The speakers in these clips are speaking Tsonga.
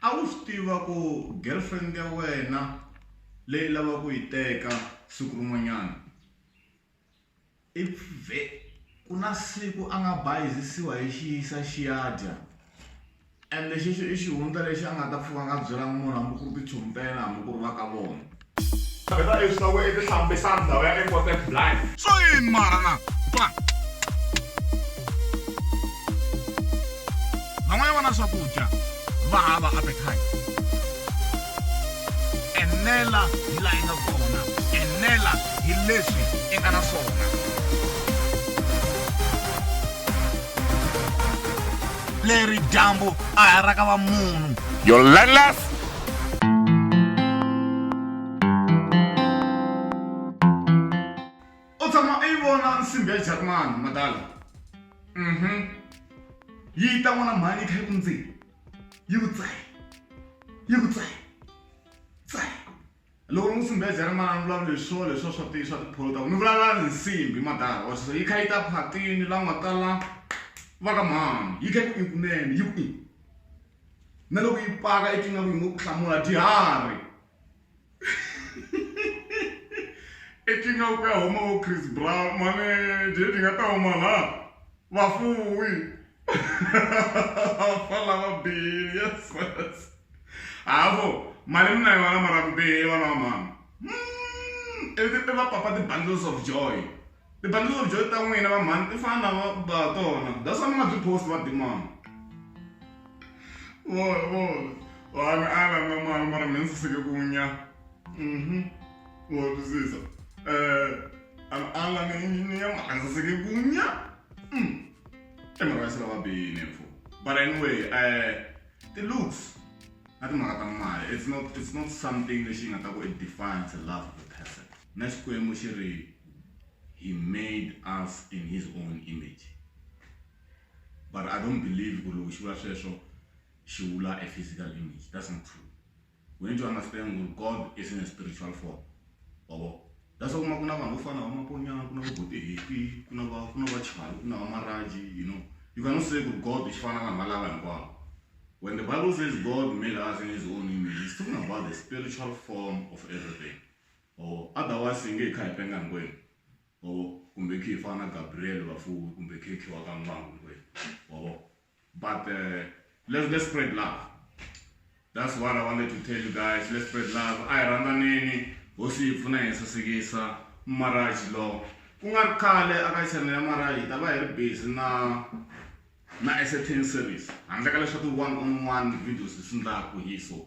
A wu swi tiva ku girlfriend ya wena leyi lava ku yi teka siku rin'wanyana i pfve ku na siku a nga bayizisiwa hi xiyisa xi ya dya ende xexo i xihundla lexi a nga ta pfuka a nga byelanga munhu hambi ku ri tichomi ta yena hambi ku ri va ka vona. van'wana va na swakudya va hava appetite enela hi laha yi nga kona enela hi leswi i nga na swona leri dyambu a hi ra ka va munhu your landless u tshama u yi vona nsimbi ya jarimani madala um yi ta n'wana mhani yi kha yi ku ndzeni yi ku tsayi yi ku tsayi tsayi loko ni nsimbi ya jarimani ni vulavula hi swona leswiwa swa ti swa tipholo ta ku ni vulavula ni nsimbi madala or so yi kha yi ta phatini la nga tala va ka mhani yi kha yi ku i kunene yi ku i na loko yi paka i tingaku yi ngo ku hlamula diharhi i tingaku ku ya huma vo chris brown mane dye ti nga ta huma la vafuwi fa lava bihile yes yes havo mali mi na yona mara mi bihile vana va mhani hmm, i va papa ti bundles of joy Ti bundle of joy ta n'wina va mhani ti fana na va tona that's why mi nga byi post va dimana vona vona vanhu a va nga mali mara mi nsaseke ku nya mhm wa twisisa eh an ala ni engineer mara nsaseke ku nya mm e mara se lava bini mfo but anyway eh ti looks na timhaka ta mali it's not it's not something lexi nga ta ku it defines a love of a person na Xikwembu xi ri, He made us in His own image. But I don't believe ku ri loko xi vula sweswo xi vula a physical image, that's not true. We need to understand ku ri God is in a spiritual form. Wa vona? That's why u kuma ku na vanhu vo fana na Vamaponyana, ku na vo Botehepi, ku na va ku na va Chali, ku na va Maraji, you know. You cannot say ku ri God xi fana na vanhu valava hinkwavo. When the Bible says God made us in His own image, it's talking about the spiritual form of everything. ma vo otherwise hi nge hi kha hi penga hinkwenu ma vo kumbe hi khe hi fana na Gabriel Vafuwi kumbe hi khe hi khiwa ka n'wangu hinkwenu ma vo but let's let's spread love that's what I wanted to tell you guys let's spread love a hi rhandzaneni hosi yi pfuna hi sasekisa marriage law ku nga ri khale aka channel ya marriage hi ta va hi ri busy na na entertain series handle ka leswa ti one on one videos hi swi ndlaku hi so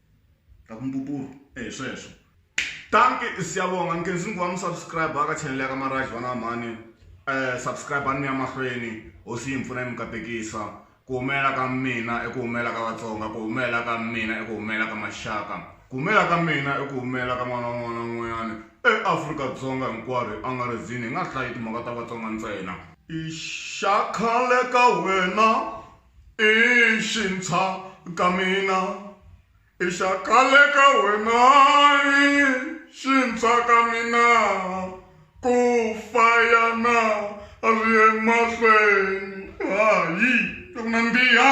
ta ku mbuburu e hi sweswo tanki siyabonga nkenzi nguva mi subscribe ka channel ya ka maraj vana va mhani um eh, subscribe a ni ya mahlweni hosi yi mi pfuna yi mi katekisa ku humelela ka mina i ku humelela ka vatsonga ku humelela ka mina i ku humelela ka maxaka ku humelela ka mina i ku humelela ka n'wana wun'wana wun'wanyana eafrika-dzonga hinkwaro hi angarhezini hi nga hlayi timhaka ta vatsonga ntsena i xa khale ka wena I xintshwa ka mina i xa khale ka wena i xintshwa ka mina ku fa yana a ri emahlweni hayi ku nandziha.